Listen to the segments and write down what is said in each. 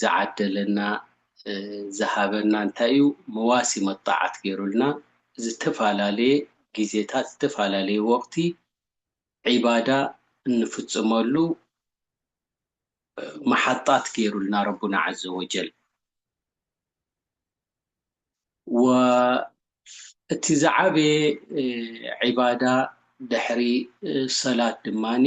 ዝዓደለና ዝሃበና እንታይ እዩ መዋሲ መጣዓት ገይሩልና ዝተፈላለየ ግዜታት ዝተፈላለየ ወቅቲ ዒባዳ እንፍፅመሉ መሓጣት ገይሩልና ረቡና ዓዘ ወጀል ወእቲ ዝዓበየ ዒባዳ ድሕሪ ሰላት ድማኒ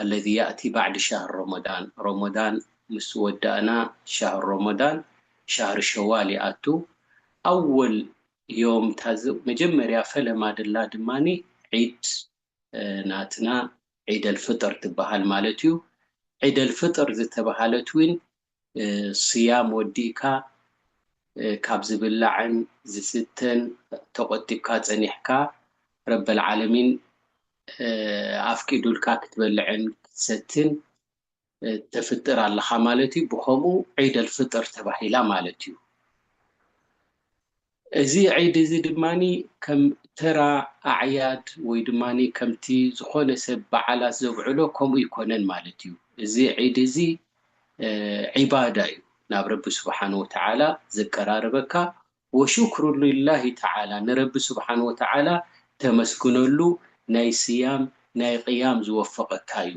ኣለዚ ያእቲ ባዕድ ሻህር ሮሞዳን፣ ሮሞዳን ምስ ወዳእና ሻህር ሮሞዳን፣ ሻህር ሸዋል፣ ይኣቱ። ኣወል ዮም እታ መጀመርያ ፈለማ ድላ ድማ ዒድ ናትና ዒደል ፍጥር ትበሃል ማለት እዩ። ዒደል ፍጥር ዝተበሃለት ውን ስያም ወዲእካ ካብ ዝብላዕን ዝስተን ተቆጢብካ ጸኒሕካ ረበል ዓለሚን ኣፍቂዱልካ ክትበልዕን ክትሰትን ተፍጥር ኣለኻ ማለት እዩ ብኸምኡ ዒደል ፍጥር ተባሂላ ማለት እዩ። እዚ ዒድ እዚ ድማ ከም ተራ ኣዕያድ ወይ ድማ ከምቲ ዝኾነ ሰብ በዓላት ዘብዕሎ ከምኡ ኣይኮነን ማለት እዩ። እዚ ዒድ እዚ ዒባዳ እዩ፣ ናብ ረቢ ስብሓነሁ ወተዓላ ዘቀራርበካ፣ ወሹክሩ ሊላሂ ተዓላ፣ ንረቢ ስብሓነሁ ወተዓላ ተመስግነሉ ናይ ስያም ናይ ቕያም ዝወፈቐካ እዩ።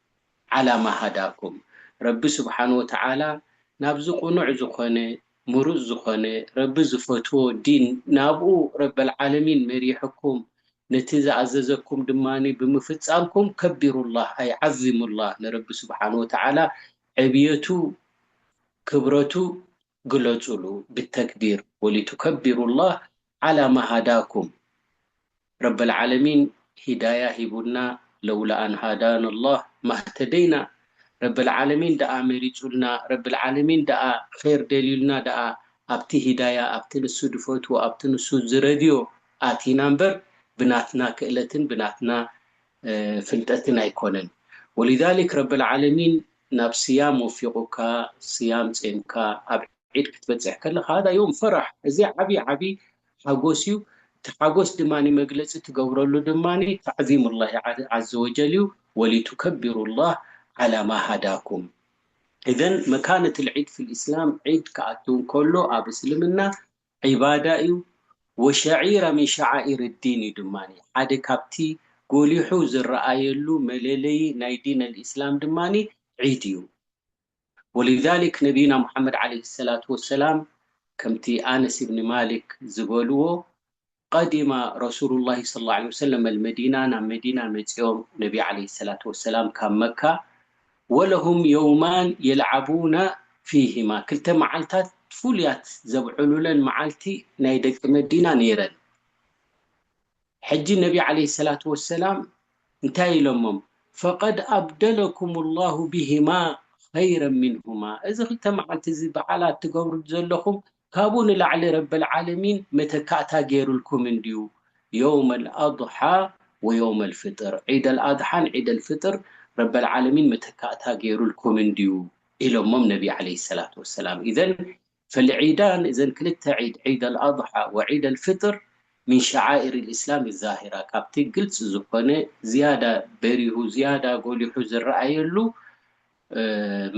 ዓላ ማ ሃዳኩም ረቢ ስብሓን ወተዓላ ናብዚ ቁኑዕ ዝኮነ ሙሩፅ ዝኮነ ረቢ ዝፈትዎ ዲን ናብኡ ረበልዓለሚን መሪሕኩም ነቲ ዝኣዘዘኩም ድማ ብምፍፃምኩም ከቢሩላህ ኣይ ዓዚሙላህ ንረቢ ስብሓን ወተዓላ ዕብየቱ ክብረቱ ግለጹሉ ብተክቢር ወሊቱከቢሩ ላህ ዓላ ማ ሃዳኩም ረበል ዓለሚን ሂዳያ ሂቡና ለውላ ኣን ሃዳን ላህ ማህተደይና ረበል ዓለሚን ደኣ መሪጹልና ረበል ዓለሚን ደኣ ኼር ደልዩልና ደኣ ኣብቲ ሂዳያ ኣብቲ ንሱ ድፈትዎ ኣብቲ ንሱ ዝረድዮ ኣቲና እምበር ብናትና ክእለትን ብናትና ፍልጠትን ኣይኮነን ወሊዛሊክ ረበል ዓለሚን ናብ ስያም ወፊቁካ ስያም ጼምካ ኣብ ዒድ ክትበጽሕ ከለካ ሃዳ ዮም ፈራሕ እዚ ዓቢ ዓቢ ሓጎስ ዩ እቲ ሓጎስ ድማ መግለጺ ትገብረሉ ድማ ተዕዚም ላሂ ዓዘወጀል ዩ ወሊቱከቢሩ ላህ ዓላ ማ ሃዳኩም ኢዘን መካነት ልዒድ ፊል ኢስላም ዒድ ክኣቱ እንከሎ ኣብ እስልምና ዒባዳ እዩ፣ ወሸዒራ ሚን ሸዓኢር ዲን እዩ ድማ፣ ሓደ ካብቲ ጎሊሑ ዝረኣየሉ መለለዪ ናይ ዲን ኣልኢስላም ድማ ዒድ እዩ። ወሊዛሊክ ነቢዩና ሙሓመድ ዓለይሂ ሰላቱ ወሰላም ከምቲ ኣነስ ብን ማሊክ ዝበልዎ፣ ቐዲማ ረሱሉላሂ ሰለላሁ ዓለይሂ ወሰለም ኣልመዲና ናብ መዲና መጺኦም ነቢ ዓለይሂ ሰላቱ ወሰላም ካብ መካ ወለሁም የውማን የልዓቡና ፊሂማ ክልተ መዓልታት ፍሉያት ዘብዕሉለን መዓልቲ ናይ ደቂ መዲና ነይረን ሕጂ ነቢ ዓለይሂ ሰላቱ ወሰላም እንታይ ኢሎሞም ፈቐድ ኣብደለኩሙላሁ ቢሂማ ኸይረን ሚንሁማ እዚ ክልተ መዓልቲ እዚ በዓላት ትገብሩ ዘለኹም ካብኡ ንላዕሊ ረበልዓለሚን መተካእታ ገይሩልኩም እንድዩ የውመል ኣድሓ ወየውመል ፍጥር ዒደል ኣድሓን ዒደል ፍጥር ረበልዓለሚን መተካእታ ገይሩልኩም እንድዩ ኢሎሞም ነቢ ዓለይሂ ሰላቱ ወሰላም ኢዘን ፈልዒዳን እዘን ክልተ ዒድ ዒደል ኣድሓ ወዒደል ፍጥር ምን ሸዓኢር ልእስላም ዛሂራ ካብቲ ግልፂ ዝኾነ ዝያዳ በሪሁ ዝያዳ ጎሊሑ ዝረኣየሉ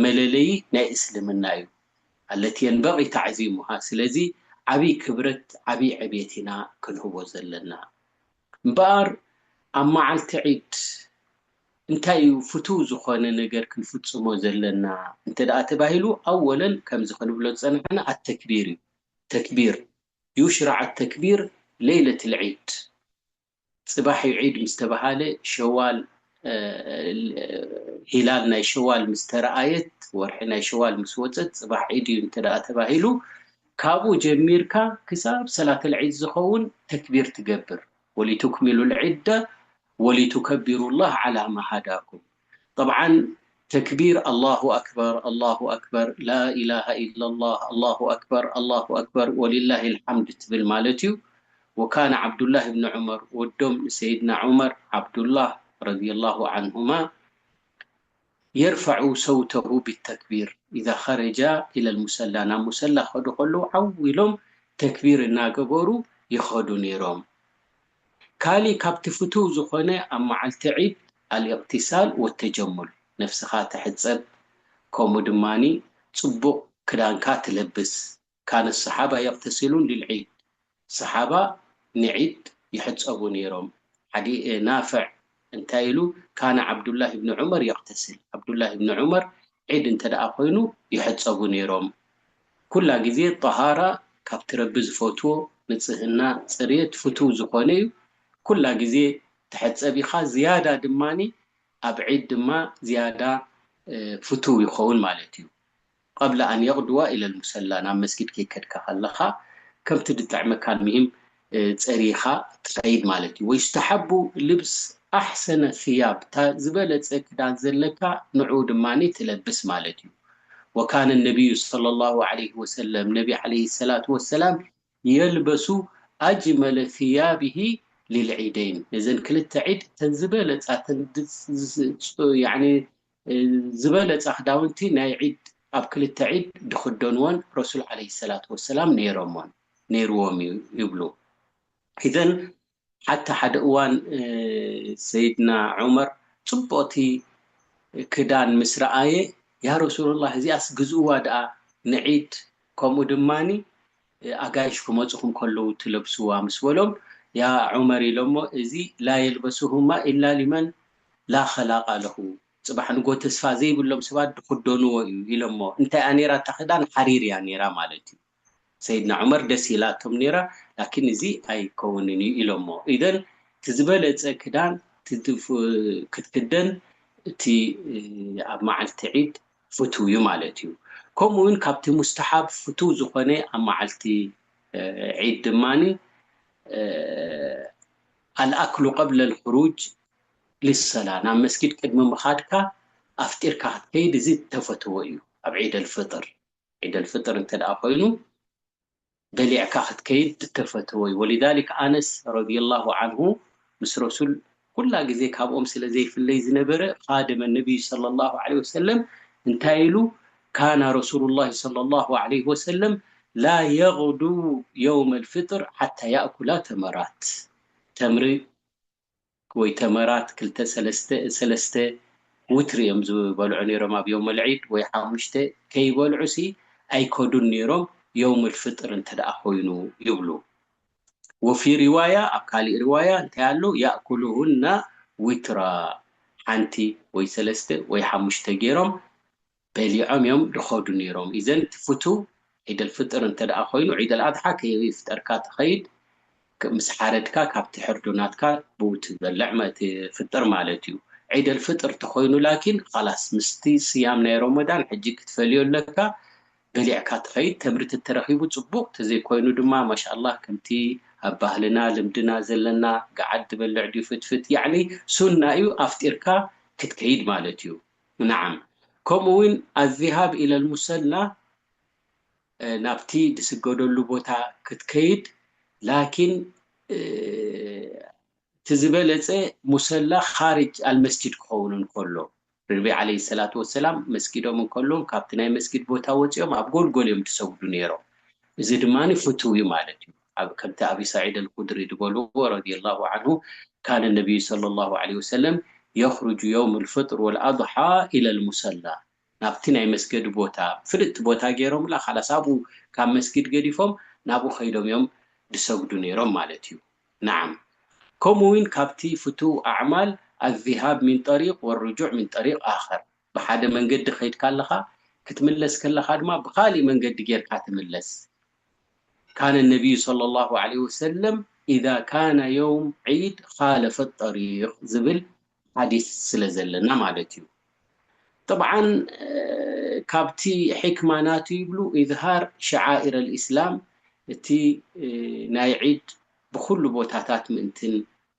መለለዪ ናይ እስልምና እዩ። ኣለትየን በቒ ታዕዚሙሃ ስለዚ ዓቢ ክብረት ዓቢ ዕብየት ኢና ክንህቦ ዘለና እምበኣር ኣብ መዓልቲ ዒድ እንታይ እዩ ፍቱው ዝኾነ ነገር ክንፍጽሞ ዘለና እንተ ተባሂሉ ኣወለን ከምዚ ክንብሎ ዝጸናሕና ኣተክቢር እዩ ተክቢር ዩሽራዕ ኣተክቢር ለይለትል ዒድ ጽባሕ ዩ ዒድ ምስ ተባሃለ ሸዋል ሂላል ናይ ሸዋል ምስ ተረኣየት ወርሒ ናይ ሸዋል ምስ ወጸት ጽባሕ ዒድ ዩ እንተ ተባሂሉ ካብኡ ጀሚርካ ክሳብ ሰላተል ዒድ ዝኸውን ተክቢር ትገብር ወሊቱክሚሉል ዒደ ወሊቱከቢሩላህ ዓላ ማ ሃዳኩም። ጠብዓን ተክቢር ኣላሁ ኣክበር ኣላሁ ኣክበር ላኢላሃ ኢለላህ ኣላሁ ኣክበር ኣላሁ ኣክበር ወሊላሂል ሓምድ ትብል ማለት'ዩ። ወካነ ዓብዱላህ ብኒ ዑመር ወዶም ንሰይድና ዑመር ዓብዱላህ ረዲየላሁ ዓንሁማ የርፈዑ ሰውተሁ ቢተክቢር ኢዛ ኸረጃ ኢለል ሙሰላ ናብ ሙሰላ ክኸዱ ከለዉ ዓው ኢሎም ተክቢር እናገበሩ ይኸዱ ነይሮም። ካሊእ ካብቲ ፍቱው ዝኾነ ኣብ መዓልቲ ዒድ ኣልእቅትሳል ወተጀሙል፣ ነብስኻ ትሕጸብ ከምኡ ድማ ጽቡቕ ክዳንካ ትለብስ፣ ካነ ኣሰሓባ የቅተሲሉን ሊልዒድ፣ ሰሓባ ንዒድ ይሕጸቡ ኔሮም፣ ሓዲ ናፍዕ እንታይ ኢሉ ካነ ዓብዱላህ ብን ዑመር የቅተስል ዓብዱላህ ብን ዑመር ዒድ እንተደኣ ኮይኑ ይሕፀቡ ነይሮም ኩላ ግዜ ጠሃራ ካብቲ ረቢ ዝፈትዎ ንፅህና ፅርየት ፍትው ዝኾነ እዩ ኩላ ግዜ ትሕፀብ ኢኻ ዝያዳ ድማ ኣብ ዒድ ድማ ዝያዳ ፍትው ይኸውን ማለት እዩ። ቐብለ ኣን የቕድዋ ኢለ ልሙሰላ ናብ መስጊድ ከይከድካ ከለኻ ከምቲ ድጥዕመካ ኣልምሂም ጸሪኻ ትኸይድ ማለት እዩ ወዩስተሓቡ ልብስ ኣሕሰነ ፊያብ እታ ዝበለጸ ክዳን ዘለካ ንዑኡ ድማ ትለብስ ማለት እዩ ወካነ ነብዩ ሰለሏሁ ዓለይሂ ወሰለም ነቢ ዓለይሂ ሰላቱ ወሰላም የልበሱ ኣጅመለ ፊያቢሂ ሊልዒደይን ነዘን ክልተ ዒድ እተን ዝበለጻ እተን ያዕኒ ዝበለጸ ክዳውንቲ ናይ ዒድ ኣብ ክልተ ዒድ ድኽደንዎን ረሱል ዓለይሂ ሰላቱ ወሰላም ነይሮሞን ነይርዎም እዩ ይብሉ። ኢዘን ሓታ ሓደ እዋን ሰይድና ዑመር ጽብቕቲ ክዳን ምስ ረኣየ ያ ረሱለላህ እዚኣስ ግዝእዋ ደኣ ንዒድ ከምኡ ድማ ኣጋይሽ ክመጹኹም ከለዉ ትለብስዋ ምስ በሎም ያ ዑመር ኢሎሞ እዚ ላ የልበሱሁማ ኢላ ሊመን ላ ኸላቃ ለሁ ጽባሕ ንግሆ ተስፋ ዘይብሎም ሰባት ድኽደንዎ እዩ ኢሎሞ እንታይ እያ ኔራ እታ ክዳን ሓሪር እያ ኔራ ማለት እዩ ሰይድና ዑመር ደስ ኢላቶም ኔራ ላኪን እዚ ኣይከውንን እዩ ኢሎሞ ኢዘን እቲ ዝበለጸ ክዳን ክትክደን እቲ ኣብ መዓልቲ ዒድ ፍቱው እዩ ማለት እዩ። ከምኡ ውን ካብቲ ሙስተሓብ ፍቱው ዝኾነ ኣብ መዓልቲ ዒድ ድማ ኣልኣክሉ ቀብለል ኹሩጅ ሊሰላ ናብ መስጊድ ቅድሚ ምኻድካ ኣፍጢርካ ክትከይድ እዚ እተፈተወ እዩ ኣብ ዒደል ፍጥር ዒደል ፍጥር እንተድኣ ኮይኑ በሊዕካ ክትከይድ እተፈተወዩ ወሊዛሊክ ኣነስ ረዲየላሁ ዓንሁ ምስ ረሱል ኩላ ግዜ ካብኦም ስለ ዘይፍለይ ዝነበረ ኻድመ ነብዩ ሰለላሁ ዓለይሂ ወሰለም እንታይ ኢሉ ካነ ረሱሉላሂ ሰለላሁ ዓለይሂ ወሰለም ላ የግዱው የውመል ፊጥር ሓታ ያእኩላ ተመራት ተምሪ ወይ ተመራት ክልተ ሰለስተ ሰለስተ ውትሪ እዮም ዝበልዑ ነይሮም ኣብ ዮውመ ልዒድ ወይ ሓሙሽተ ከይበልዑሲ ኣይከዱን ነይሮም ዮውም ልፍጥር እንተድኣ ኮይኑ ይብሉ ወፊ ሪዋያ ኣብ ካሊእ ሪዋያ እንታይ ኣሎ ያእኩሉሁና ዊትራ ሓንቲ ወይ ሰለስተ ወይ ሓሙሽተ ገይሮም በሊዖም እዮም ድኸዱ ነይሮም ኢዘን እቲ ፍቱው ዒደልፍጥር እንተ ደኣ ኮይኑ ዒደልኣድሓ ከይፍጠርካ ትኸይድ ምስ ሓረድካ ካብ ትሕርዶ ናትካ ብኡ ትበልዕ ትፍጥር ማለት እዩ ዒደልፍጥር ተኾይኑ ላኪን ኻላስ ምስቲ ስያም ናይ ሮሞዳን ሕጂ ክትፈልዮ ኣለካ በሊዕካ ትኸይድ ተምሪ ተተረኺቡ ጽቡቕ ተዘይኮይኑ ድማ ማሻላህ ከምቲ ኣብ ባህልና ልምድና ዘለና ገዓት ትበልዕ ድዩ ፍትፍት ያዕኒ ሱና እዩ ኣፍጢርካ ክትከይድ ማለት እዩ ነዓም ከምኡ ውን ኣዝሃብ ኢለልሙሰላ ናብቲ ድስገደሉ ቦታ ክትከይድ ላኪን እቲ ዝበለጸ ሙሰላ ኻርጅ ኣልመስጂድ ክኸውን እንከሎ ርቢ ዓለይሂ ሰላቱ ወሰላም መስጊዶም እንከለዉ ካብቲ ናይ መስጊድ ቦታ ወጺኦም ኣብ ጎልጎል እዮም ድሰግዱ ነይሮም እዚ ድማ ፍቱው እዩ ማለት እዩ። ኣብ ከምቲ ኣቢ ሰዒድ ኣልኹድሪ ድበልዎ ረዲየላሁ ዓንሁ ካነ ነብዩ ሰለላሁ ዓለይሂ ወሰለም የኽሩጁ የውመል ፍጥር ወል ኣድሓ ኢለል ሙሰላ ናብቲ ናይ መስገዲ ቦታ ፍልጥቲ ቦታ ገይሮምላ ኻላስ ኣብኡ ካብ መስጊድ ገዲፎም ናብኡ ኸይዶም እዮም ድሰግዱ ነይሮም ማለት እዩ ነዓም ከምኡ እውን ካብቲ ፍቱው ኣዕማል ኣዝሃብ ሚን ጠሪቅ ወርጁዕ ሚን ጠሪቅ ኣኸር ብሓደ መንገዲ ከይድካ ኣለኻ ክትምለስ ከለኻ ድማ ብኻሊእ መንገዲ ጌርካ ተመለስ ካነ ነቢዩ ሰለላሁ ዓለይሂ ወሰለም ኢዛ ካነ የውም ዒድ ኻለፈ ጠሪቅ ዝብል ሓዲስ ስለ ዘለና ማለት እዩ ጠብዓን ካብቲ ሒክማ ናቱ ይብሉ ኢዝሃር ሸዓኢረ ልእስላም እቲ ናይ ዒድ ብኹሉ ቦታታት ምእንትን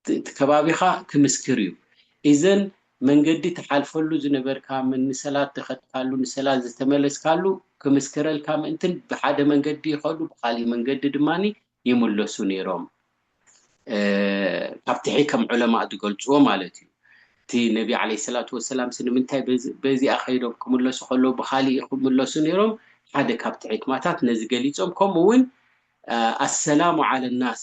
እቲ ከባቢኻ ክምስክር እዩ። እዘን መንገዲ ትሓልፈሉ ዝነበርካ፣ ንሰላት ዝኸድካሉ፣ ንሰላት ዝተመለስካሉ ክምስክረልካ ምእንትን ብሓደ መንገዲ ይኸዱ ብኻሊእ መንገዲ ድማ ይምለሱ ነይሮም። ካብትሒ ከም ዑለማእ ዝገልጽዎ ማለት እዩ። እቲ ነቢ ዓለይሂ ሰላቱ ወሰላምሲ ንምንታይ በዚኣ ከይዶም ክምለሱ ከለዉ ብኻሊእ ይኽምለሱ ነይሮም? ሓደ ካብቲ ሕክማታት ነዚ ገሊጾም ከምኡውን ኣሰላሙ ዓለ ናስ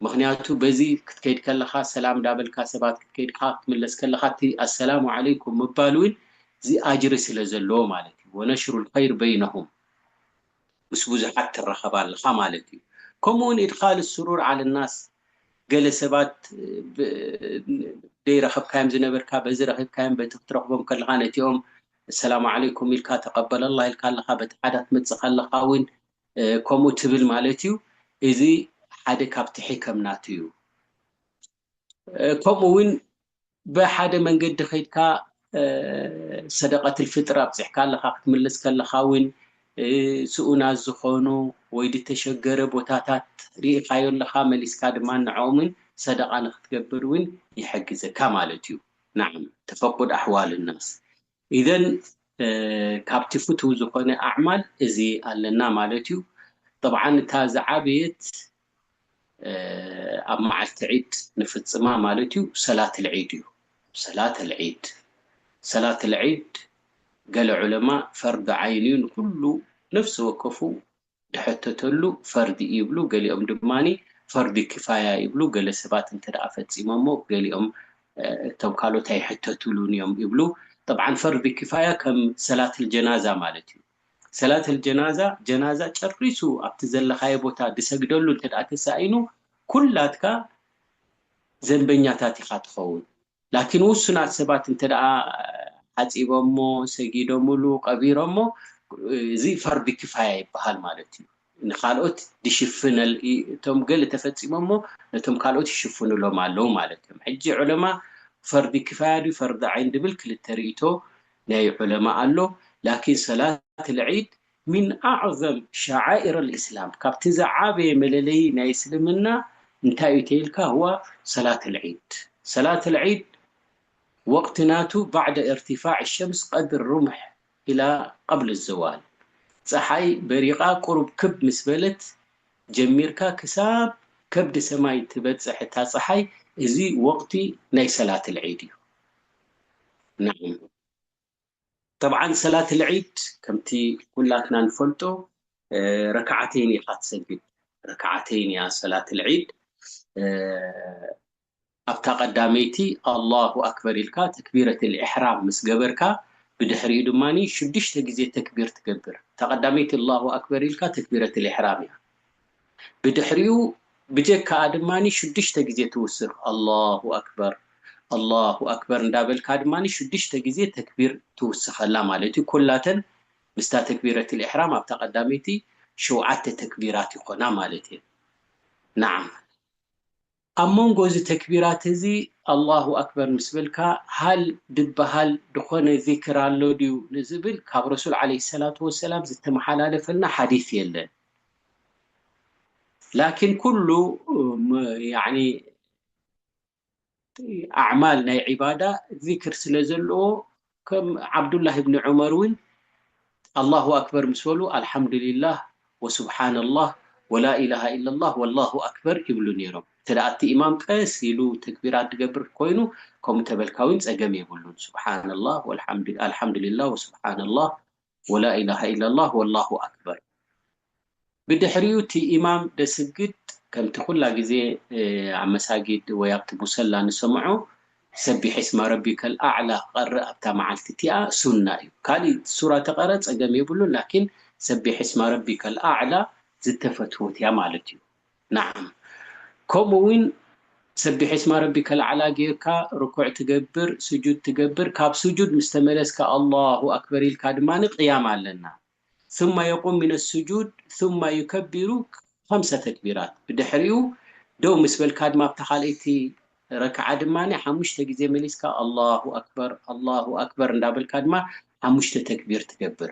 ምኽንያቱ በዚ ክትከይድ ከለኻ ሰላም ዳበልካ ሰባት ክትከይድ ከኣ ክትምለስ ከለኻ እቲ ኣሰላሙ ዓለይኩም ምባል ውን እዚ ኣጅሪ ስለ ዘለዎ ማለት እዩ ወነሽሩል ኸይር በይነሁም ምስ ብዙሓት ትራኸብ ኣለኻ ማለት እዩ ከምኡ ውን ኢድኻል ሱሩር ዓለ ናስ ገለ ሰባት ብ ደይረኸብካዮም ዝነበርካ በዚ ረኺብካዮም በቲ ክትረኽቦም ከለኻ ነቲኦም ኣሰላሙ ዓለይኩም ኢልካ ተቀበለላህ ኢልካ ኣለኻ በቲ ሓዳ ትመጽእ ከለኻ ውን ከምኡ ትብል ማለት እዩ እዚ ሓደ ካብቲ ሕከም ናቱ እዩ ከምኡ እውን ብሓደ መንገዲ ከድካ ሰደቀትል ፍጥር ኣብፅሕካ ኣለካ ክትምልስ ከለካ እውን ስኡናት ዝኾኑ ወይ ዝተሸገረ ቦታታት ርኢካዮ ኣለካ መሊስካ ድማ ንዕኦምን ሰደቃ ንክትገብር እውን ይሕግዘካ ማለት እዩ ናዓም ተፈቁድ ኣሕዋል ናስ ኢዘን ካብቲ ፍቱው ዝኾነ ኣዕማል እዚ ኣለና ማለት እዩ። ጠብዓን እታ ዝዓበየት ኣብ መዓልቲ ዒድ ንፍጽማ ማለት እዩ ሰላት ኣልዒድ እዩ። ሰላት ኣልዒድ ሰላት ኣልዒድ ገለ ዑለማ ፈርዱ ዓይን እዩ ንኹሉ ነፍሲ ወከፉ ድሕተተሉ ፈርድ ይብሉ ገሊኦም ድማ ፈርድ ኪፋያ ይብሉ ገለ ሰባት እንተ ፈጺሞሞ ገሊኦም እቶም ካልኦት ኣይሕተትሉን እዮም ይብሉ ጠብዓን ፈርድ ኪፋያ ከም ሰላትል ጀናዛ ማለት እዩ ሰላትል ጀናዛ ጀናዛ ጨሪሱ ኣብቲ ዘለኻዮ ቦታ ድሰግደሉ እንተ ተሳኢኑ ኩላትካ ዘንበኛታት ኢኻ ትኸውን ላኪን ውሱናት ሰባት እንተደኣ ሓጺቦሞ፣ ሰጊዶምሉ፣ ቀቢሮሞ እዚ ፈርድ ኪፋያ ይበሃል ማለት እዩ። ንካልኦት ድሽፍን እቶም ገለ ተፈጺሞሞ ነቶም ካልኦት ይሽፍኑሎም ኣለዉ ማለት እዮም። ሕጂ ዑለማ ፈርድ ኪፋያ ድዩ ፈርድ ዓይን ድብል ክልተ ርእይቶ ናይ ዑለማ ኣሎ። ላኪን ሰላት ኣልዒድ ሚን ኣዕዘም ሸዓኢረል ኢስላም ካብቲ ዝዓበየ መለለዪ ናይ እስልምና እንታይ እዩ ተይልካ ሁዋ ሰላተል ዒድ ሰላተል ዒድ ወቅቲ ናቱ ባዕደ እርቲፋዕ ሸምስ ቀድር ሩምሕ ኢላ ቀብል ዘዋል ጸሓይ በሪቃ ቁሩብ ክብ ምስ በለት ጀሚርካ ክሳብ ከብዲ ሰማይ ትበጽሕ እታ ጸሓይ እዚ ወቅቲ ናይ ሰላተል ዒድ እዩ ነዓም። ጠብዓን ሰላትል ዒድ ከምቲ ኩላትና ንፈልጦ ረክዓተይን ኢኻ ትሰግድ ረክዓተይን እያ ሰላትል ዒድ ኣብታ ቀዳመይቲ ኣላሁ ኣክበር ኢልካ ተክቢረትል ኢሕራም ምስ ገበርካ ብድሕሪኡ ድማ ሽዱሽተ ግዜ ተክቢር ትገብር እታ ቀዳመይቲ ኣላሁ ኣክበር ኢልካ ተክቢረትል ኢሕራም እያ ብድሕሪኡ ብጀካኣ ድማ ሽዱሽተ ግዜ ትውስኽ ኣላሁ ኣክበር ኣላሁ ኣክበር እንዳበልካ ድማ ሽዱሽተ ግዜ ተክቢር ትውስኸላ ማለት እዩ ኩላተን ምስታ ተክቢረቲል ኢሕራም ኣብታ ቀዳመይቲ ሸውዓተ ተክቢራት ይኾና ማለት እየን ናዓም ኣብ መንጎ እዚ ተክቢራት እዚ ኣላሁ ኣክበር ምስ በልካ ሃል ድበሃል ድኾነ ዚክር ኣሎ ድዩ ንዝብል ካብ ረሱል ዓለይሂ ሰላቱ ወሰላም ዝተመሓላለፈልና ሓዲስ የለን ላኪን ኩሉ ያኒ ኣዕማል ናይ ዒባዳ ዚክር ስለ ዘለዎ ከም ዓብዱላህ ኢብኒ ዑመር ውን ኣላሁ ኣክበር ምስ በሉ ኣልሓምዱሊላህ ወሱብሓነላህ ወላኢላሃ ኢለላህ ወላሁ ኣክበር ይብሉ ኔሮም። እንተ እቲ ኢማም ቀስ ኢሉ ተክቢራት ዝገብር ኮይኑ ከምኡ ተበልካ ውን ጸገም የብሉን። ሱብሓነላህ ኣልሓምዱሊላህ ወሱብሓነላህ ወላኢላሃ ኢላላህ ወላሁ ኣክበር ብድሕሪኡ እቲ ኢማም ደስግድ ከምቲ ኩላ ግዜ ኣብ መሳጊድ ወይ ኣብቲ ሙሰላ ንሰምዖ ሰቢሕ እስመ ረቢከል ኣዕላ ክቀርእ ኣብታ መዓልቲ እቲኣ ሱና እዩ ካሊእ ሱራ ተቀረ ጸገም የብሉን ላኪን ሰቢሕ እስመ ረቢከል ኣዕላ ዝተፈትወት እያ ማለት እዩ ናዓም ከምኡ ውን ሰቢሕ እስማ ረቢ ከልዓላ ጌርካ ርኩዕ ትገብር ስጁድ ትገብር ካብ ስጁድ ምስ ተመለስካ ኣላሁ ኣክበር ኢልካ ድማ ቅያም ኣለና ثመ የቁም ሚነ ስጁድ ثመ ዩከቢሩ ኸምሰ ተክቢራት ብድሕሪኡ ደው ምስ በልካ ድማ ኣብታ ካልኣይቲ ረክዓ ድማ ሓሙሽተ ግዜ መሊስካ ኣላሁ ኣክበር ኣላሁ ኣክበር እንዳበልካ ድማ ሓሙሽተ ተክቢር ትገብር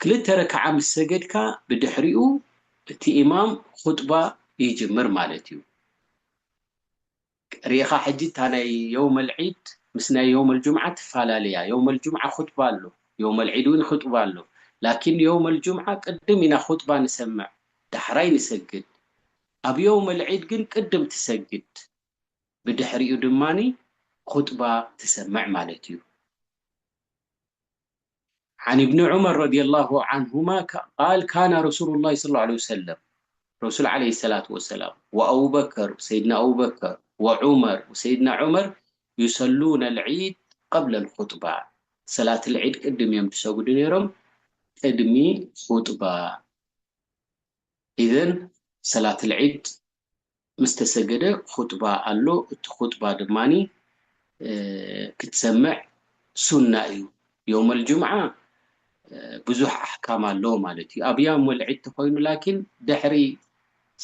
ክልተ ረክዓ ምስ ሰገድካ ብድሕሪኡ እቲ ኢማም ኹጥባ ይጅምር ማለት እዩ ሪኢኻ ሕጂ እታ ናይ የውመል ዒድ ምስ ናይ የውመል ጁምዓ ትፋላለ እያ የውመል ጁምዓ ኹጥባ ኣሎ የውመል ዒድ ውን ኹጥባ ኣሎ ላኪን የውመል ጁምዓ ቅድም ኢና ኹጥባ ንሰምዕ ዳሕራይ ንሰግድ ኣብ የውመል ዒድ ግን ቅድም ትሰግድ ብድሕሪኡ ድማ ኹጥባ ትሰምዕ ማለት እዩ። ዓን ኢብኒ ዑመር ረዲየላሁ ዓንሁማ ቃል ካነ ረሱሉላሂ ሰለላሁ ዓለይሂ ወሰለም ረሱል ዓለይሂ ሰላቱ ወሰላም ወአቡበከር ሰይድና አቡበከር ወዑመር ሰይድና ዑመር ዩሰሉነል ዒድ ቀብለል ኹጥባ ሰላትል ዒድ ቅድም እዮም ዝሰግዱ ነይሮም ቅድሚ ኹጥባ ኢዘን ሰላትል ዒድ ምስ ተሰገደ ኹጥባ ኣሎ እቲ ኹጥባ ድማ ክትሰምዕ ሱና እዩ ዮመል ጁምዓ ብዙሕ ኣሕካም ኣለዎ ማለት እዩ ኣብ ያመል ዒድ ተኾይኑ ላኪን ድሕሪ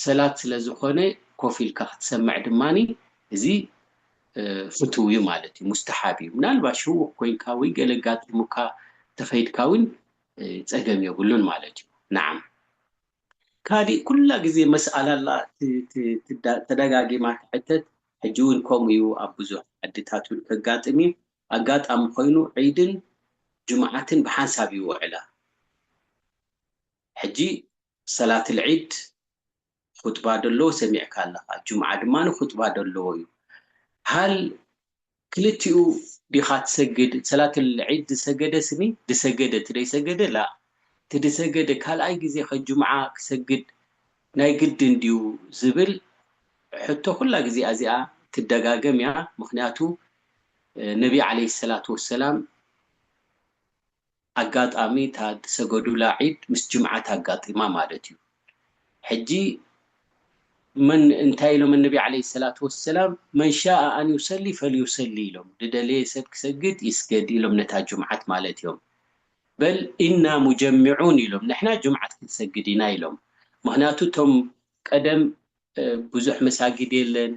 ሰላት ስለ ዝኾነ ኮፍ ኢልካ ክትሰምዕ ድማ እዚ ፍትው እዩ ማለት እዩ ሙስተሓብ እዩ ምናልባሽ ህዉኽ ኮይንካ ወይ ገለ ኣጋጢሙካ ተኸይድካ ውን ጸገም የብሉን ማለት እዩ ናዓም ካሊእ ኩላ ግዜ መስኣላ ኣላ ተዳጋጊማ ትሕተት ሕጂ ውን ከምኡ እዩ ኣብ ብዙሕ ዓድታት ውን ከጋጥም እዩ ኣጋጣሚ ኮይኑ ዒድን ጅምዓትን ብሓንሳብ ይውዕላ ሕጂ ሰላትል ዒድ ኹጥባ ደለዎ ሰሚዕካ ኣለኻ ጁምዓ ድማ ኹጥባ ደለዎ እዩ ሃል ክልቲኡ ዲኻ ትሰግድ ሰላተል ዒድ ድሰገደ ስኒ ድሰገደ እቲ ደይሰገደ ላእ እቲ ድሰገደ ካልኣይ ግዜ ከ ጁምዓ ክሰግድ ናይ ግድን ድዩ ዝብል ሕቶ ኩላ ግዜ ኣዚኣ ትደጋገም እያ ምኽንያቱ ነቢ ዓለይሂ ሰላቱ ወሰላም ኣጋጣሚ እታ ዝሰገዱላ ዒድ ምስ ጅምዓ ታጋጢማ ማለት እዩ ሕጂ መን እንታይ ኢሎም ኣነቢ ዓለይሂ ሰላቱ ወሰላም መን ሻኣ ኣን ዩሰሊ ፈልዩሰሊ ኢሎም ድደለየ ሰብ ክሰግድ ይስገድ ኢሎም ነታ ጅምዓት ማለት እዮም በል እና ሙጀሚዑን ኢሎም ንሕና ጅምዓት ክንሰግድ ኢና ኢሎም ምክንያቱ እቶም ቀደም ብዙሕ መሳጊድ የለን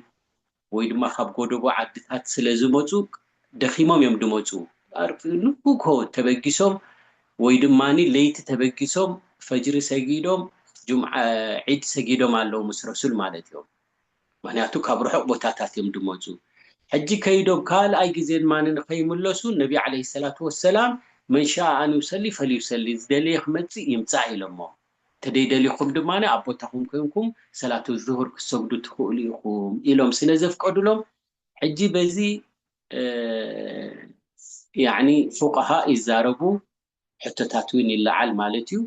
ወይ ድማ ካብ ጎደቦ ዓድታት ስለ ዝመጹ ደኺሞም እዮም ድመጹ ንግሆ ተበጊሶም ወይ ድማ ለይቲ ተበጊሶም ፈጅሪ ሰጊዶም ጁምዓ ዒድ ሰጊዶም ኣለዉ ምስ ረሱል ማለት እዮም ምክንያቱ ካብ ርሑቕ ቦታታት እዮም ድመጹ ሕጂ ከይዶም ካልኣይ ግዜ ድማ ንኸይምለሱ ነቢ ዓለይሂ ሰላቱ ወሰላም መን ሻኣ ኣን ዩሰሊ ፈልዩሰሊ ዝደለየ ክመጽእ ይምጻእ ኢሎሞም ተደይደሊኹም ድማ ኣብ ቦታኹም ኮይንኩም ሰላተ ዙሁር ክትሰግዱ ትኽእሉ ኢኹም ኢሎም ስለ ዘፍቀዱሎም ሕጂ በዚ ያኒ ፉቀሃእ ይዛረቡ ሕቶታት ውን ይለዓል ማለት እዩ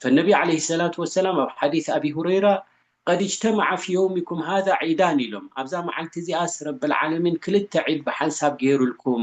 ፈነቢ ዓለይሂ ሰላቱ ወሰላም ኣብ ሓዲስ ኣቢ ሁረይራ ቀድ እጅተመዓ ፊ የውሚኩም ሃዛ ዒዳን ኢሎም ኣብዛ መዓልቲ እዚኣስ ረብል ዓለሚን ክልተ ዒድ ብሓንሳብ ገይሩልኩም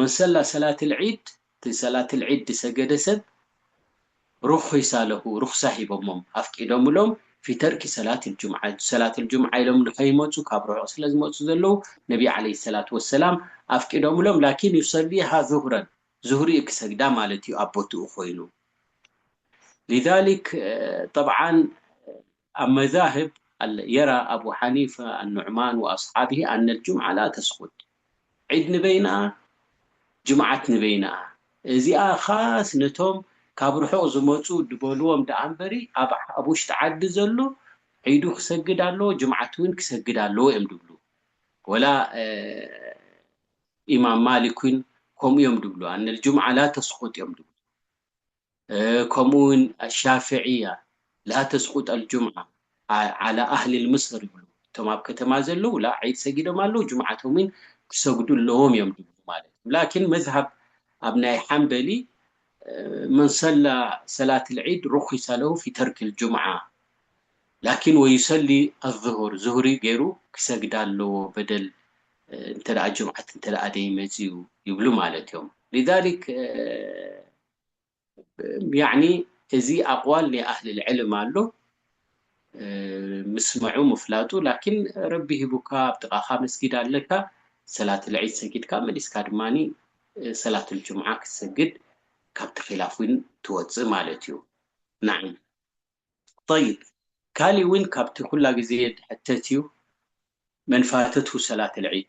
መሰላ ሰላትል ዒድ እቲ ሰላትል ዒድ ድሰገደ ሰብ ሩኺሳ ለሁ ሩኽሳ ሂቦሞም ኣፍቂዶምሎም ፊተርኪ ሰላትል ጁምዓ ሰላትል ጁምዓ ኢሎም ንኸይመጹ ካብ ርሑቕ ስለ ዝመጹ ዘለዉ ነቢ ዓለይሂ ሰላቱ ወሰላም ኣፍቂዶምሎም ላኪን ዩሰሊሃ ዙህረን ዙህሪ እዩ ክሰግዳ ማለት እዩ ኣብ ቦትኡ ኮይኑ ሊዛሊክ ጠብዓን ኣብ መዛህብ ኣል የራ ኣቡ ሓኒፈ ኣኑዕማን ወኣስሓብሂ ኣነል ጁምዓ ላ ተስኹት፣ ዒድ ንበይንኣ ጅምዓት ንበይንኣ፣ እዚኣ ኻስ ነቶም ካብ ርሑቕ ዝመጹ ድበልዎም ድኣምበሪ ኣብ ውሽጢ ዓዲ ዘሎ ዒዱ ክሰግድ ኣለዎ ጅምዓት ውን ክሰግድ ኣለዎ እዮም ድብሉ ወላ ኢማም ማሊክ ውን ከምኡ እዮም ድብሉ ኣነል ጁምዓ ላ ተስኹት እዮም ድብሉ። ከምኡ ውን ኣሻፍዕያ ላ ተስቁጥ ኣልጁምዓ ዓላ ኣህሊል ምስር ይብሉ እቶም ኣብ ከተማ ዘለዉ ላ ዒድ ሰጊዶም ኣለዉ ጁምዓቶም ውን ክሰግዱ ኣለዎም እዮም ዝብሉ ማለት እዩ ላኪን መዝሃብ ኣብ ናይ ሓንበሊ መን ሰላ ሰላት ኣልዒድ ሩኪሰ ለሁ ፊ ተርኪ ኣልጁምዓ ላኪን ወዩሰሊ ኣልዙሁር ዙህሪ ገይሩ ክሰግዳ ኣለዎ በደል እንተ ጁምዓት እንተ ደይመጽኡ ይብሉ ማለት እዮም ሊዛሊክ ያዕኒ እዚ ኣቅዋል ናይ ኣህልል ዕልም ኣሎ ምስመዑ ምፍላጡ ላኪን ረቢ ሂቡካ ኣብ ጥቃካ መስጊድ ኣለካ ሰላትል ዒድ ሰጊድካ መሊስካ ድማ ሰላትል ጁምዓ ክትሰግድ ካብቲ ኪላፍ ዊን ትወጽእ ማለት እዩ ናዓም ጠይብ ካሊእ ዊን ካብቲ ኩላ ግዜ ድሕተት እዩ መን ፋተትሁ ሰላትል ዒድ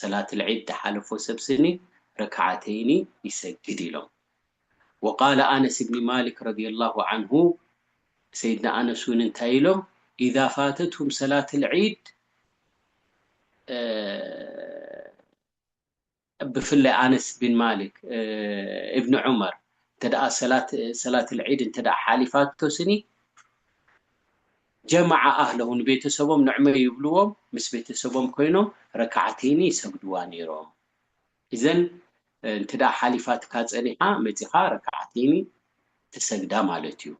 ሰላትል ዒድ ድሓለፎ ሰብ ስኒ ረክዓተይኒ ይሰግድ ኢሎም። ወቃለ ኣነስ ብኒ ማሊክ ረዲየላሁ ዓንሁ ሰይድና ኣነስ እውን እንታይ ኢሎም ኢዛ ፋተትሁም ሰላትል ዒድ ብፍላይ ኣነስ ብን ማሊክ እብኒ ዑመር እንተ ሰላትል ዒድ እንተ ሓሊፋቶ ስኒ ጀማዓ ኣህለሁ ንቤተሰቦም ንዕመ ይብልዎም ምስ ቤተሰቦም ኮይኖም ረካዓተይኒ ይሰግድዋ ነይሮም እዘን እንተ ሓሊፋትካ ፀኒሓ መፂኻ ረካዓተይኒ ትሰግዳ ማለት እዩ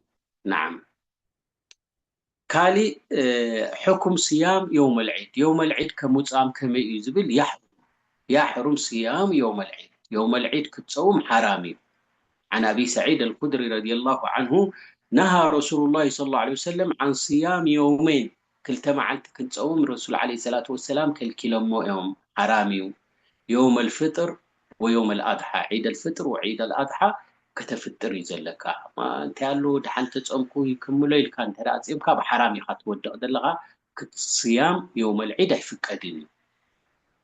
ናዓም ካሊእ ሕኩም ስያም የውመል ዒድ የውመል ዒድ ከምፃም ከመይ እዩ ዝብል ያሕብሩ ያሕሩም ስያሙ የውመል ዒድ፣ የውመል ዒድ ክትጸውም ሓራም እዩ። ዓን ኣቢ ሰዒድ ኣልኹድሪ ረዲየላሁ ዓንሁ ነሃ ረሱሉላሂ ሰለላሁ ዓለይሂ ወሰለም ዓን ስያሚ የውመይን፣ ክልተ መዓልቲ ክንጸውም ረሱል ዓለይሂ ሰላቱ ወሰላም ከልኪሎሞ እዮም፣ ሓራም እዩ። የውመል ፍጥር ወየውመል ኣድሓ፣ ዒደል ፍጥር ወዒደል ኣድሓ ከተፍጥር እዩ ዘለካ። እንታይ ኣለዎ ደሓን ተጸምኩ ይክምሎ ኢልካ እንተ ጸምካ ኣብ ሓራም ኢኻ ትወድቕ ዘለኻ፣ ክት ስያም የውመል ዒድ ኣይፍቀድን እዩ።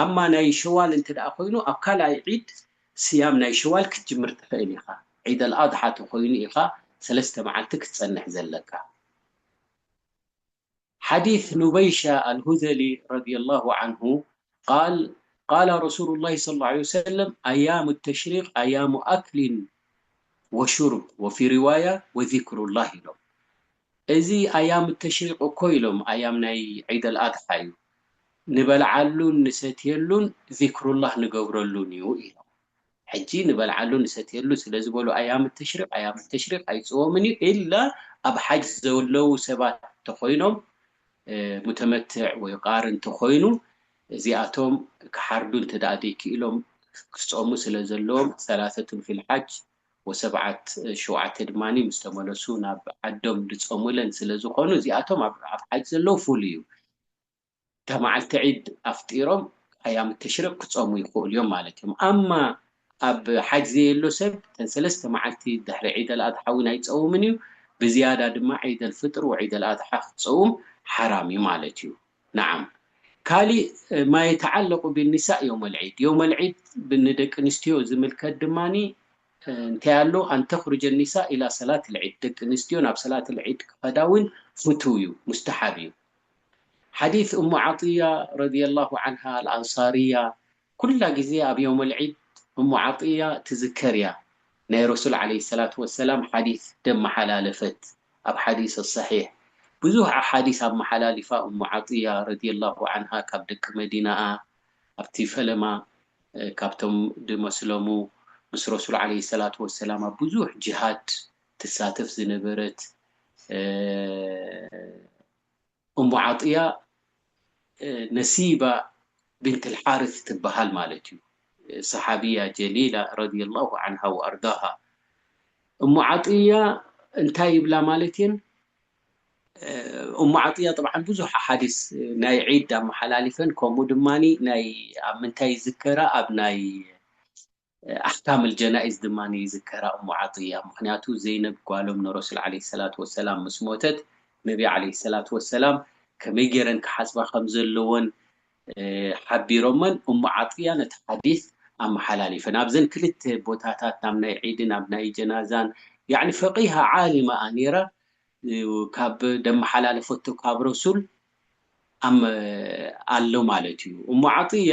ኣማ ናይ ሸዋል እንተ ኮይኑ ኣብ ካልኣይ ዒድ ስያም ናይ ሸዋል ክትጅምር ትክእል ኢካ ዒድ ኣልኣድሓ ተኮይኑ ኢካ ሰለስተ መዓልቲ ክትጸንሕ ዘለካ ሓዲስ ኑበይሻ ኣልሁዘሊ ረዲየላሁ ዓንሁ ቃል ቃለ ረሱሉላሂ ሰለላሁ ዓለይሂ ወሰለም ኣያሙ ተሽሪቅ ኣያሙ ኣክሊን ወሹርብ ወፊ ሪዋያ ወዚክሩላህ ኢሎም። እዚ ኣያም ተሽሪቅ እኮ ኢሎም ኣያም ናይ ዒደል ኣድሓ እዩ ንበልዓሉን ንሰትየሉን ዚክሩላህ ንገብረሉን እዩ ኢሎም ሕጂ ንበልዓሉ ንሰትየሉ ስለዝበሉ ኣያም ተሽሪቅ ኣያም ተሽሪቅ ኣይጽወምን እዩ ኢላ ኣብ ሓጅ ዘለው ሰባት ተኾይኖም ሙተመትዕ ወይ ቃርን ተኾይኑ እዚኣቶም ክሓርዱ እንተ ዘይኪኢሎም ክጾሙ ስለዘለዎም ሰላሰቱን ፊል ሓጅ ወሰብዓት ሸውዓተ ድማ ምስ ተመለሱ ናብ ዓዶም ድጸሙለን ስለ ዝኾኑ እዚኣቶም ኣብ ኣብ ሓጅ ዘለዉ ፍሉይ እዩ እታ መዓልቲ ዒድ ኣፍጢሮም ኣያም ተሽሪቅ ክጸሙ ይኽእሉ እዮም ማለት እዮም ኣማ ኣብ ሓጅ ዘየሎ ሰብ እተን ሰለስተ መዓልቲ ድሕሪ ዒድ ኣልኣድሓ እውን ኣይጸውምን እዩ ብዝያዳ ድማ ዒድ ኣልፍጥር ወዒድ ኣልኣድሓ ክጸውም ሓራም እዩ ማለት እዩ ነዓም ካሊእ ማየተዓለቁ ቢኒሳእ ዮመል ዒድ ዮመል ዒድ ንደቂ ኣንስትዮ ዝምልከት ድማ እንታይ ኣሎ ኣንተኽሩጀ ኒሳእ ኢላ ሰላት ልዒድ ደቂ ኣንስትዮ ናብ ሰላት ልዒድ ክኸዳ ውን ፍቱው ዩ ሙስተሓብ ዩ ሓዲት እሙ ዓጥያ ረዲየላሁ ዓንሃ ኣልኣንሳርያ ኩላ ግዜ ኣብ ዮመል ዒድ እሙ ዓጥያ ትዝከር ኢያ ናይ ረሱል ዓለይሂ ሰላቱ ወሰላም ሓዲስ ደማሓላለፈት ኣብ ሓዲስ ሰሒሕ ብዙህ ኣሓዲስ ኣማሓላሊፋ እሙ ዓጥያ ረዲየላሁ ዓንሃ ካብ ደቂ መዲናኣ ኣብቲ ፈለማ ካብቶም ድመስለሙ ምስ ረሱል ዓለይሂ ሰላቱ ወሰላም ኣብ ብዙህ ጅሃድ ትሳተፍ ዝነበረት እሞ ዓጥያ ነሲባ ቢንት ኣልሓርስ ትበሃል ማለት እዩ። ሰሓብያ ጀሊላ ረዲየላሁ ዓንሃ ወኣርዳሃ። እሞ ዓጥያ እንታይ ይብላ ማለት እየን? እሞ ዓጥያ ጠብዓን ብዙሕ ኣሓዲስ ናይ ዒድ ኣመሓላሊፈን ከምኡ ድማ ናይ ኣብ ምንታይ ይዝከራ ኣብ ናይ ኣሕካም ኣልጀናኢዝ ድማ ይዝከራ እሙ ዓጥያ ምኽንያቱ ዘይነብ ጓሎም ንረሱል ዓለይሂ ሰላቱ ወሰላም ምስ ሞተት ነቢ ዓለይሂ ሰላቱ ወሰላም ከመይ ጌረን ክሓጽባ ከም ዘለወን ሓቢሮመን እሙ ዓጥያ ነቲ ሓዲስ ኣመሓላሊፈን ኣብዘን ክልተ ቦታታት ናብ ናይ ዒድን ኣብ ናይ ጀናዛን ያዕኒ ፈቂሃ ዓሊማ እያ ኔራ ካብ ደመሓላለፈቶ ካብ ረሱል ኣሎ ማለት እዩ እሙ ዓጥያ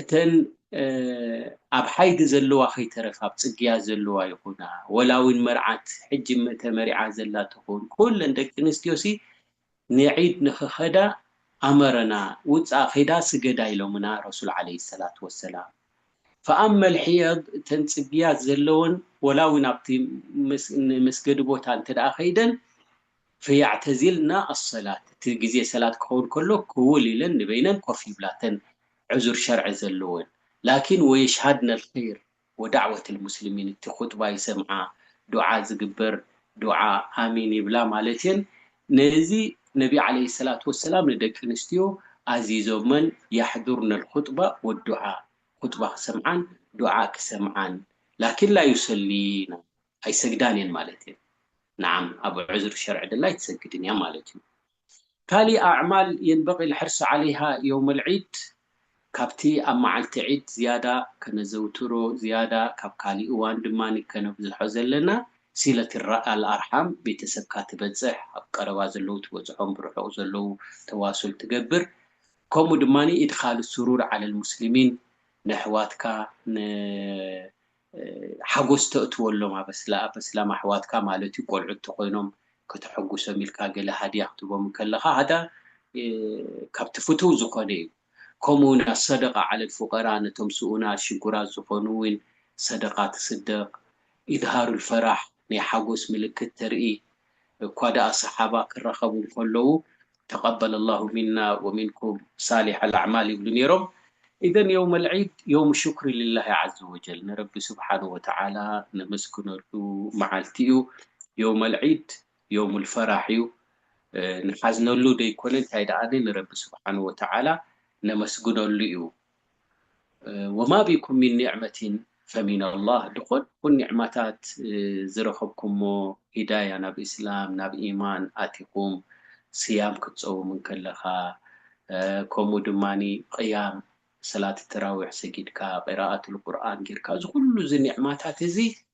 እተን ኣብ ሓይጊ ዘለዋ ከይተረፋ ኣብ ጽግያት ዘለዋ ይኹና ወላ ውን መርዓት ሕጂ ተመሪዓ ዘላ ትኹን ኩለን ደቂ ኣንስትዮሲ ንዒድ ንኽኸዳ ኣመረና ውጻእ ኺዳ ስገዳ ኢሎምና ረሱል ዓለይሂ ሰላቱ ወሰላም ፈኣመ ኣልሒየድ እተን ጽግያት ዘለወን ወላ ውን ኣብቲ ንመስገዲ ቦታ እንተደኣ ከይደን ፈያዕተዚልና ኣሰላት፣ እቲ ግዜ ሰላት ክኸውን ከሎ ክውል ኢለን ንበይነን ኮፍ ይብላ እተን ዑዙር ሸርዒ ዘለወን። ላኪን ወየሽሃድነል ኸይር ወዳዕወተል ሙስሊሚን እቲ ኹጥባ ይሰምዓ፣ ዱዓ ዝግበር ዱዓ ኣሚን ይብላ ማለት እየን። ነዚ ነቢ ዓለይሂ ሰላቱ ወሰላም ንደቂ ኣንስትዮ ኣዚዞመን ያሕዱርነል ኹጥባ ወዱዓ፣ ኹጥባ ክሰምዓን ዱዓ ክሰምዓን ላኪን ላዩሰሊና። ኣይሰግዳን እየን ማለት እየን። ነዓም ኣብ ዑዝር ሸርዒ ድላ ኣይትሰግድን እያ ማለት እዩ። ካሊእ ኣዕማል የንበቂ ልሕርሲ ዓለይሃ የውመል ዒድ ካብቲ ኣብ መዓልቲ ዒድ ዝያዳ ከነዘውትሮ ዝያዳ ካብ ካሊእ እዋን ድማ ከነብዝሖ ዘለና ሲለት ኣልኣርሓም ቤተሰብካ ትበፅሕ ኣብ ቀረባ ዘለዉ ትበፅሖም ብርሑቕ ዘለዉ ተዋሱል ትገብር ከምኡ ድማ ኢድኻል ሱሩር ዓለል ሙስሊሚን ነሕዋትካ ን ሓጎስ ተእትወሎም ኣብ ኣስላ ኣብ ኣስላም ኣሕዋትካ ማለት እዩ ቆልዑት ተኾይኖም ከተሐጉሶም ኢልካ ገለ ሃድያ ክትህቦም እንከለኻ ሃዳ ካብቲ ፍቱው ዝኾነ እዩ ከምኡ ውን ኣሰደቃ ዓለል ፉቀራ ነቶም ስኡናት ሽጉራት ዝኾኑ ውን ሰደቃ ትስደቅ ኢዝሃሩል ፈራሕ ናይ ሓጎስ ምልክት ተርኢ እኳ ደኣ ሰሓባ ክራኸቡ እንከለዉ ተቀበለ ላሁ ሚና ወሚንኩም ሳሊሐል ኣዕማል ይብሉ ኔሮም። ኢዘን የውመል ዒድ የውም ሹክሪ ሊላሂ ዓዘ ወጀል ንረቢ ሱብሓነሁ ወተዓላ ነመስግነሉ መዓልቲ እዩ። የውመል ዒድ የውሙል ፈራሕ እዩ። ንሓዝነሉ ደይኮነ እንታይ ደኣኒ ንረቢ ሱብሓነሁ ወተዓላ ነመስግነሉ እዩ። ወማ ቢኩም ሚን ኒዕመቲን ፈሚነላህ ድኾን ኩን ኒዕማታት ዝረኸብኩሞ ሂዳያ ናብ እስላም ናብ ኢማን ኣቲኹም ስያም ክትጸውም እንከለኻ ከምኡ ድማ ቕያም ሰላት ተራዊሕ ሰጊድካ ቂራኣቱል ቁርኣን ጌርካ እዚ ኩሉ እዚ ኒዕማታት እዚ